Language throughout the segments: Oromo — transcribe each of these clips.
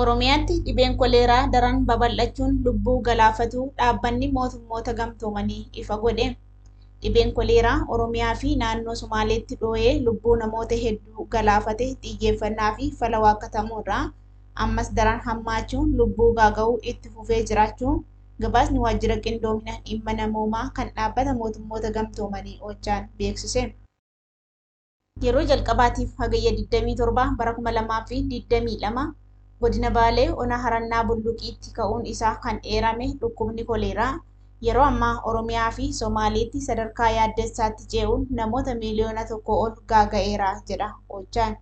Oromiyaatti dhibeen koleeraa daran babal'achuun lubbuu galaafatuu Dhaabbanni Mootummoota Gamtoomanii ifa godhe. Dhibeen koleeraa Oromiyaa fi naannoo Sumaaleetti dhooyee lubbuu namoota hedduu galaafate xiyyeeffannaa fi fala waakkatamuu irraa ammas daran hammaachuun lubbuu gaaga'uu itti fufee jiraachuu gabaasni Waajjira Qindoomina Dhimma Namoomaa kan Dhaabbata Mootummoota Gamtoomanii, Ochaan, beeksise. Yeroo jalqabaatiif Hagayya 27 bara 2022 Godina Baalee Ona Harannaa Bulluqiitti ka'uun isaa kan eerame dhukkubni koleeraa yeroo ammaa Oromiyaa fi Somaaleetti sadarkaa yaaddessaatti cee'uun namoota miiliyoona tokkoo ol gaaga'eera jedha Ochaan.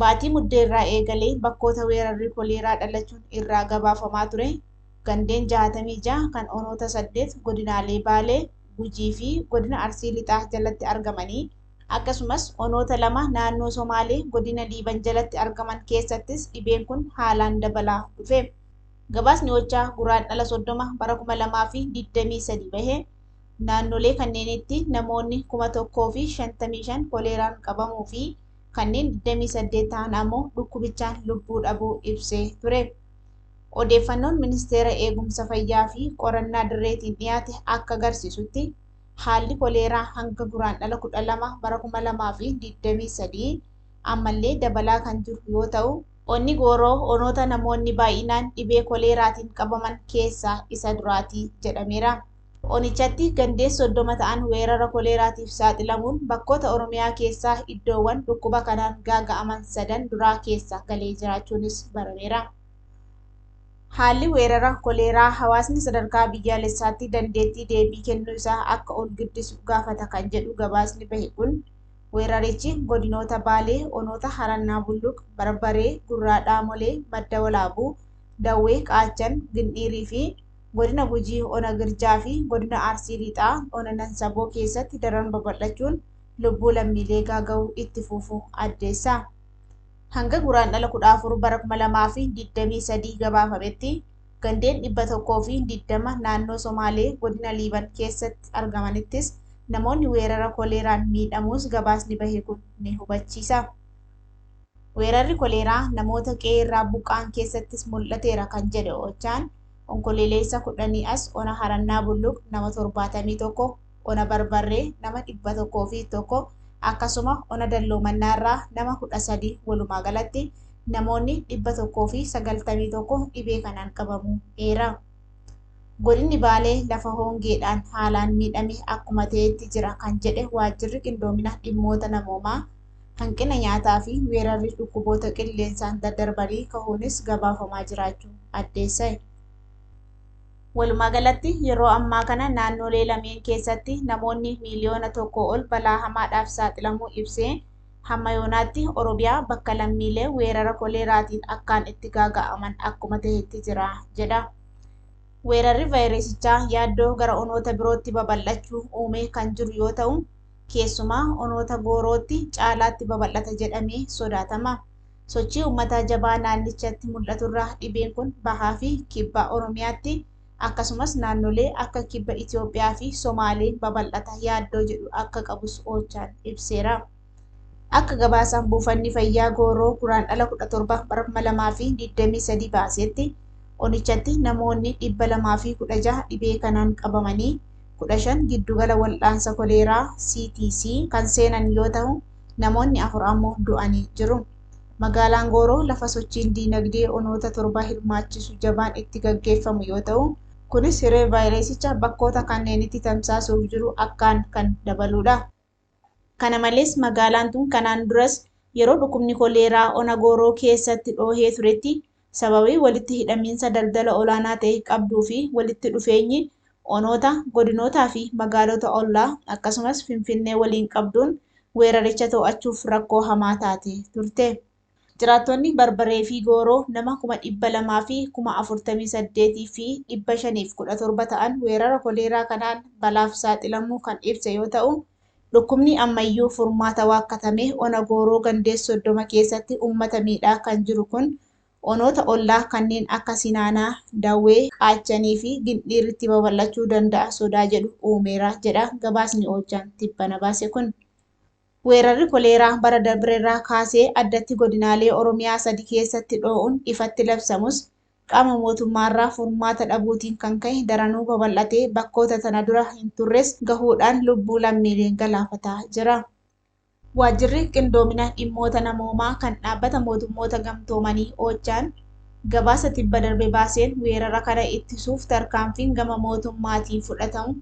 Baatii Muddee irraa eegalee bakkoota weerarri koleeraa dhalachuun irraa gabaafamaa ture gandeen 66 kan onoota 8 godinaalee Baalee, Gujii fi Godina Arsii Lixaa jalatti argamanii, akkasumas onoota lama naannoo Somaalee Godina Liiban jalatti argaman keessattis dhibeen kun haalaan dabalaa dhufe. Gabaasni OCHA Guraandhala 30 bara 2023 bahe, naannolee kanneenitti namoonni 1,055 koleeraan qabamuu fi kanneen 28 tahan ammoo dhukkubichaan lubbuu dhabuu ibsee ture. Odeeffannoon Ministeera Eegumsa Fayyaa fi Qorannaa Dirreetiin dhiyaate akka agarsiisutti, haalli koleeraa hanga Guraandhala 12 bara 2023 ammallee dabalaa kan jiru yoo ta'u, Onni Gooroo onoota namoonni baay'inaan dhibee koleeraatiin qabaman keessaa isa duraati jedhameera. Onichatti gandeen 30 ta'an weerara koleeraatiif saaxilamuun bakkoota Oromiyaa keessaa iddoowwan dhukkuba kanaan gaaga'aman sadan duraa keessa galee jiraachuunis barameera. Haalli weerara koleeraa hawaasni sadarkaa biyyaalessaatti dandeettii deebii kennuu isaa akka ol guddisu gaafata kan jedhu gabaasni bahe kun, weerarichi godinoota Baalee onoota Harannaa Bulluq, Barbaree, Gurraa Dhaamolee, Madda Walaabuu, Dawwee, Qaachan, Gindhiiriifi. Godina Gujii Ona Girjaa fi Godina Arsii Lixaa Ona Nansaboo keessatti daran babal'achuun lubbuu lammiilee gaaga'uu itti fuufu addeessa. Hanga Guraandhala 14 bara 2023 gabaafametti gandeen 120 naannoo Somaalee Godina Liiban keessatti argamanittis namoonni weerara koleeraan miidhamuus gabaasni bahe kun ni hubachiisa. Weerarri koleeraa namoota qe'ee irraa buqqa'an keessattis mul'ateera kan jedhe Ochaan, Onkoleeleessa 10 as Ona Harannaa Bulluq nama 71, Ona Barbarree nama 101, akkasuma Ona Dalloo Mannaa irraa nama 13 walumaa galatti namoonni 191 dhibee kanaan qabamuu eera. Godinni Baalee lafa hongeedhaan haalaan miidhame akkuma ta'etti jira kan jedhe Waajjirri Qindoomina Dhimmoota Namoomaa, hanqina nyaataa fi weerarri dhukkuboota qilleensaan daddarbanii kahuunis gabaafamaa jiraachuu addeessa'e. Walumaagalatti yeroo ammaa kana naannoolee lameen keessatti namoonni miiliyoona tokkoo ol balaa hamaadhaaf saaxilamuu ibsee, hamma yoonaatti Oromiyaa bakka lammiilee weerara koleeraatiin akkaan itti gaaga'aman akkuma tahetti jira jedha. Weerarri vaayirasichaa yaaddoo gara onoota birootti babal'achuu uumee kan jiru yoo ta'u, Keessumaa onoota goorootti caalaatti babal'ata jedhamee sodaatama. Sochii ummataa jabaa naannichatti mul'aturraa dhibeen kun bahaafi kibba Oromiyaatti akkasumas naannolee akka kibba Itoophiyaafi Somaaleen babal'ata yaaddoo jedhu akka qabus Oochaan ibseera. Akka gabaasa buufanni fayyaa Gooroo Guraandhala 17 bara 2023 baaseetti onichatti namoonni 216 dhibee kanaan qabamanii 15 giddugala wal'aansa koleeraa, CTC, kan seenan yoo tahu, namoonni afur ammoo du'anii jiru. Magaalaan Gooroo lafa sochiin diinagdee onoota torba hirmaachisu jabaan itti gaggeeffamu yoo tahu, kunis hiree vaayirasicha bakkoota kanneenitti tamsaasuuf jiru akkaan kan dabaluudha. Kana malees magaalaan tun kanaan duras yeroo dhukkubni koleeraa ona Gooroo keessatti dhoohee turetti sababii walitti hidhamiinsa daldala olaanaa ta'e qabduu fi walitti dhufeenyi onoota, godinootaa fi magaalota ollaa akkasumas Finfinnee waliin qabduun weeraricha to'achuuf rakkoo hamaa taate turte. Jiraattonni Barbaree fi Gooroo nama kuma 200 fi kuma 48 fi 517 ta'an weerara koleeraa kanaan balaaf saaxilamuu kan ibse yoo ta'u, dhukkubni ammayyuu furmaata waakkatame ona Gooroo gandees 30 keessatti uummata miidhaa kan jiru kun onoota ollaa kanneen akka Sinaanaa, Dawwee, Qaachanii fi Gindhiiritti babal'achuu danda'a sodaa jedhu uumeera jedha gabaasni Oochaan tibbana baase kun. Weerarri koleeraa bara dabrerraa kaasee addatti godinaalee Oromiyaa sadi keessatti dhoo'uun ifatti labsamus, qaama mootummaarraa furmaata dhabuutiin kan ka'e daranuu babal'atee bakkoota tana dura hin turres gahuudhaan lubbuu lammiilee galaafataa jira. Waajjirri Qindoomina Dhimmoota Namoomaa kan Dhaabbata Mootummoota Gamtoomanii, Ochaan, gabaasa tibba darbe baaseen weerara kana ittisuuf tarkaanfiin gama mootummaatiin fudhatamu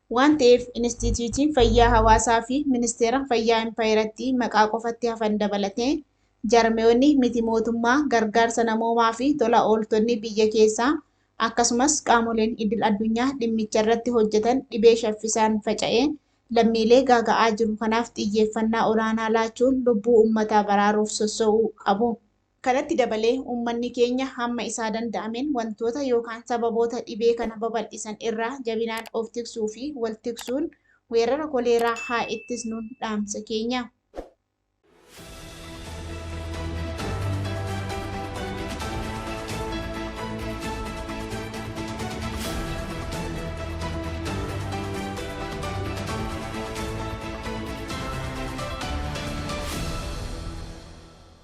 Waan ta'eef Inistiitiyuutiin Fayyaa Hawaasaa fi Ministeera Fayyaa Impaayerattii maqaa qofatti hafan dabalatee jaarmayoonni miti mootummaa, gargaarsa namoomaa fi tola ooltonni biyya keessaa akkasumas qaamoleen idil addunyaa dhimmicha irratti hojjetan dhibee shaffisaan faca'ee lammiilee gaaga'aa jiru kanaaf xiyyeeffannaa olaanaa laachuun lubbuu uummataa baraaruuf sosso'uu qabu. Kanatti dabalee uummanni keenya hamma isaa danda'ameen wantoota yookaan sababoota dhibee kana babal'isan irraa jabinaan of tiksuu fi wal tiksuun weerara koleeraa haa ittisnuun dhaamsa keenya.